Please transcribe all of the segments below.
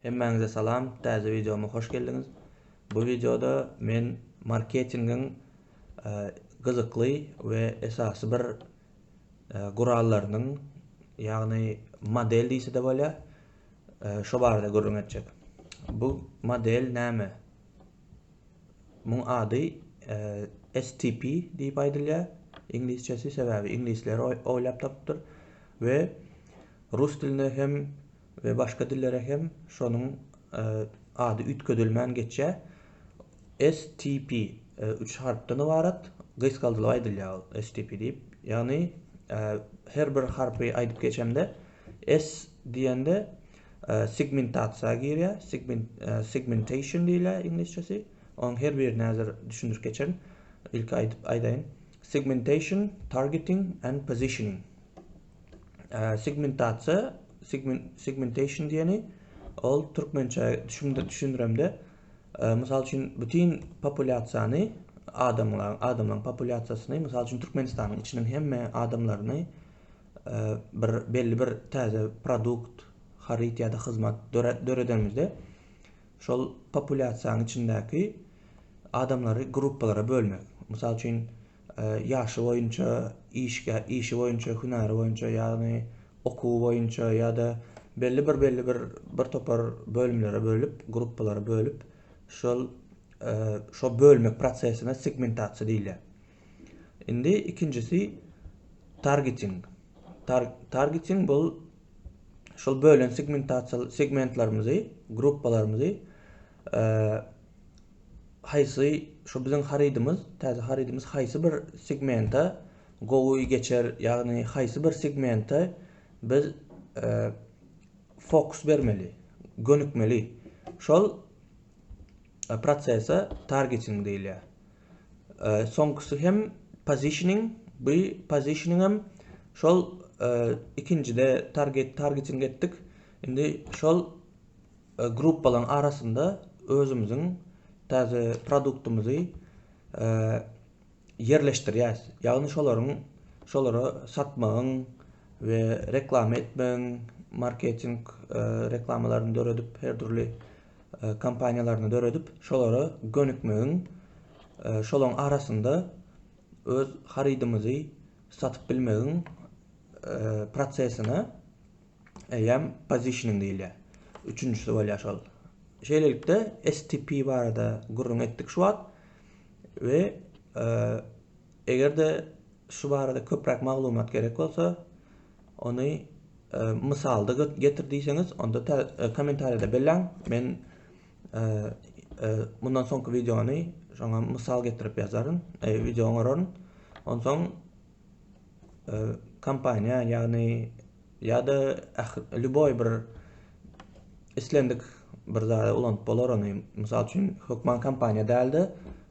Hemmäňize salam, täze wideoma hoş geldiňiz. Bu wideoda men marketingiň gyzykly we esasy bir gurallarynyň, ýagny model diýse-de bolýar, şo barada gürrüň etjek. Bu model näme? Muň ady STP diýip aýdylýar, iňlisçesi, sebäbi iňlisler oýlap tapypdyr we rus dilinde hem we başga dillere hem şonuň ady üýtgedilmän geçýär, STP, üç harpdan ybarat, gysgaldylyp aýdylýar ol, STP diýip, ýagny her bir harpy aýdyp geçemde, S diýende segmentasiýa girýär, segmentation diýilýär iňlisçesi, onuň her birini häzir düşündirip geçerin, ilki aýdyp aýdaýyn, segmentation, targeting and positioning. Segmentasiýa, segmentation diýeni, ol türkmençe düşündiremde, mysal üçin, bütin populýasiýany, adamlaryň populýasiýasyny, mysal üçin, Türkmenistanyň içiniň hemme adamlaryny bir belli bir täze produkt, haryt ýa-da hyzmat döredenimizde, şol populýasiýanyň içindäki adamlary gruppalara bölmek. Mysal üçin, ýaşy boýunça, işgä, işi boýunça, hünäri boýunça, ýagny okuwy boýunça ýa-da belli bir belli bir bir topar bölümlere bölüp, gruppalara bölüp, şol şo bölmek prosesine segmentasiýa diýilýär. Indi ikinjisi targeting. Tar targeting bu şol bölen segmentasiýa segmentlerimizi, gruppalarymyzy haýsy şu biziň harydymyz, täze harydymyz haýsy bir segmenta gowy geçer, ýagny haýsy bir segmenta biz e, fokus bermeli, gönükmeli. Şol e, prosese targeting diýilýär. E, soňkusy hem positioning, bu positioning hem şol e, ikinjide target targeting etdik. Indi şol Gruppalaryň arasynda özümiziň täze produktymyzy ýerleşdirýäs. Ýagny şolaryň şolara satmagyň we reklama etmegiň, marketing reklamalaryny döredip, her dürli kampaniýalaryny döredip, şolara gönükmegiň, şolaryň arasynda öz harydymyzy satyp bilmegiň prosesine eýýäm positioning diýilýär. Üçünjisi bolýar şol. Şeýlelikde STP barada gürrüň etdik şu wagt we e, eger-de şu barada köpräk maglumat gerek bolsa, ony e, mysalda getir diýseňiz, onda e, kommentariýada belläň. Men e, mundan soňky wideony şoňa mysal getirip ýazaryn, wideo goraryn. Onsoň kompaniýa ýagny ýa-da lýuboý bir islendik bir zada ulanyp bolar ony. Mysal üçin, hökman kompaniýa däl-de,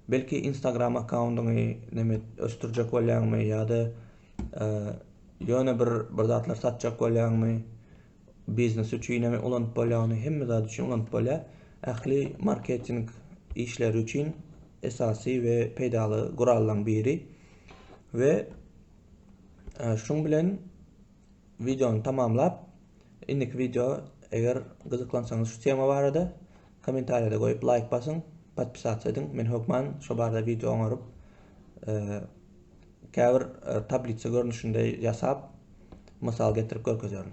belki Instagram akkaundyňy neme ösdürjek bolýaňmy ýa-da ýöne bir bir zatlar satjak bolýaňmy? Biznes üçinem ulanyp bolýar ony, hemme zat üçin ulanyp bolýar. Ähli marketing işleri üçin esasy we peýdaly gurallaryň biri. We e, şuň bilen videony tamamlap, indiki video eger gyzyklansaňyz şu tema barada kommentariýada goýup laýk basyň, podpisasiýa ediň. Men hökman şu barada video oňaryp, e, käbir e, tablisa görnüşinde ýasap, mysal getirip görkezerin.